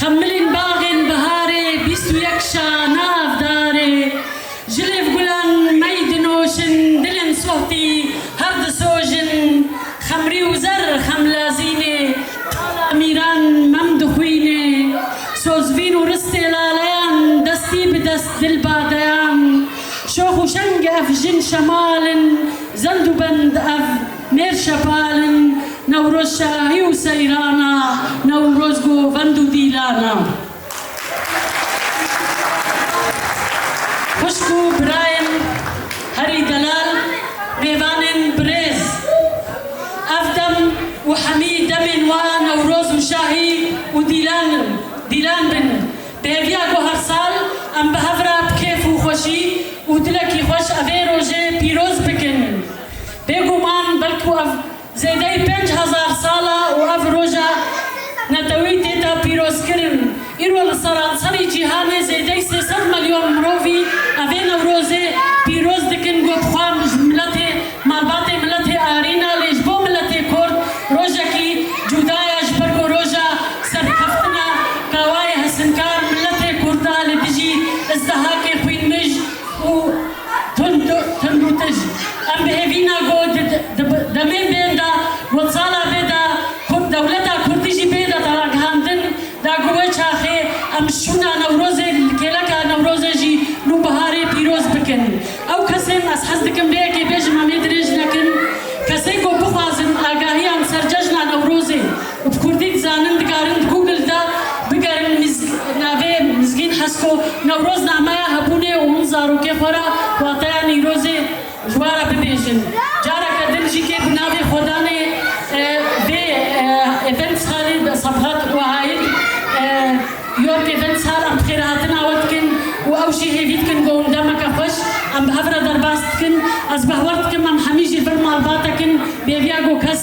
Xemilîn baxên biharê bîst û yek şa nav darê Ji lêv gulan mey dinoşin dilên sohtî hev disojin Xemrî û zer xem lazînê tala mîran mem dixwînê Sozvîn û ristê laleyan destî bi dest dil badeyan Şox û şeng ev jin şemal in zend û bend ev Mêr Şepal in Newroz Şahî û Seyran a, Newroz Govend û Dîlan a. Xwişk û birayên herî delal, mêvanên birêz. Ev dem û hemî demên wa Newroz û Şahî û Dîlan in. Dîlan bin. Bi hêviya ku her sal em bi hev re bi kêf û xweşî û dilekî xweş evê rojê pîroz bikin. Bêguman belku ev zêdeyî pênc hezar sal e û ev roja neteweyî tê de pîrozkirin. Îro li seranserî cîhanê zêdeyî sê sed milyon mirovî evê Newrozê pîroz dikin ku bi xwe ji miletê malbatê miletê arî ne lê ji bo miletê kurd rojekî cuda ye ji ber ku roja serkeftina kawayê hesinkar miletê kurd e li dijî izdihakê xwînmij û Tund û tij, em bi hêvîna ku di demên bên de got sala vê de dewleta kurdî jî bê de ragihandin da ku wê çaxê em şûna Newrozê li kêleka Newrozê jî nû biharê pîroz bikin. Ew kesên ez hez dikim vê yekê bêjim em ê dirêj nekin, kesên ku bixwazin agahiyan li ser cejna Newrozê, Bi kurdî dizanin dikarin di Google de bigerin navê Mizgîn Hesko Newroz nameya hebûnê û hûn zarokê xwe re wateya Nîrozê ji we re bibêjin. Careke din jî kê bi navê xwedanê vê eventsaly de Sabhat û Haid York Eventsal em bi xêr hatina we dikin û ew jî hêvî dikin ku hûn demeke xweş em bi hev re derbas dikin. Ez behweh dikim em hemî jî li vir malbatekin bêriya ku kes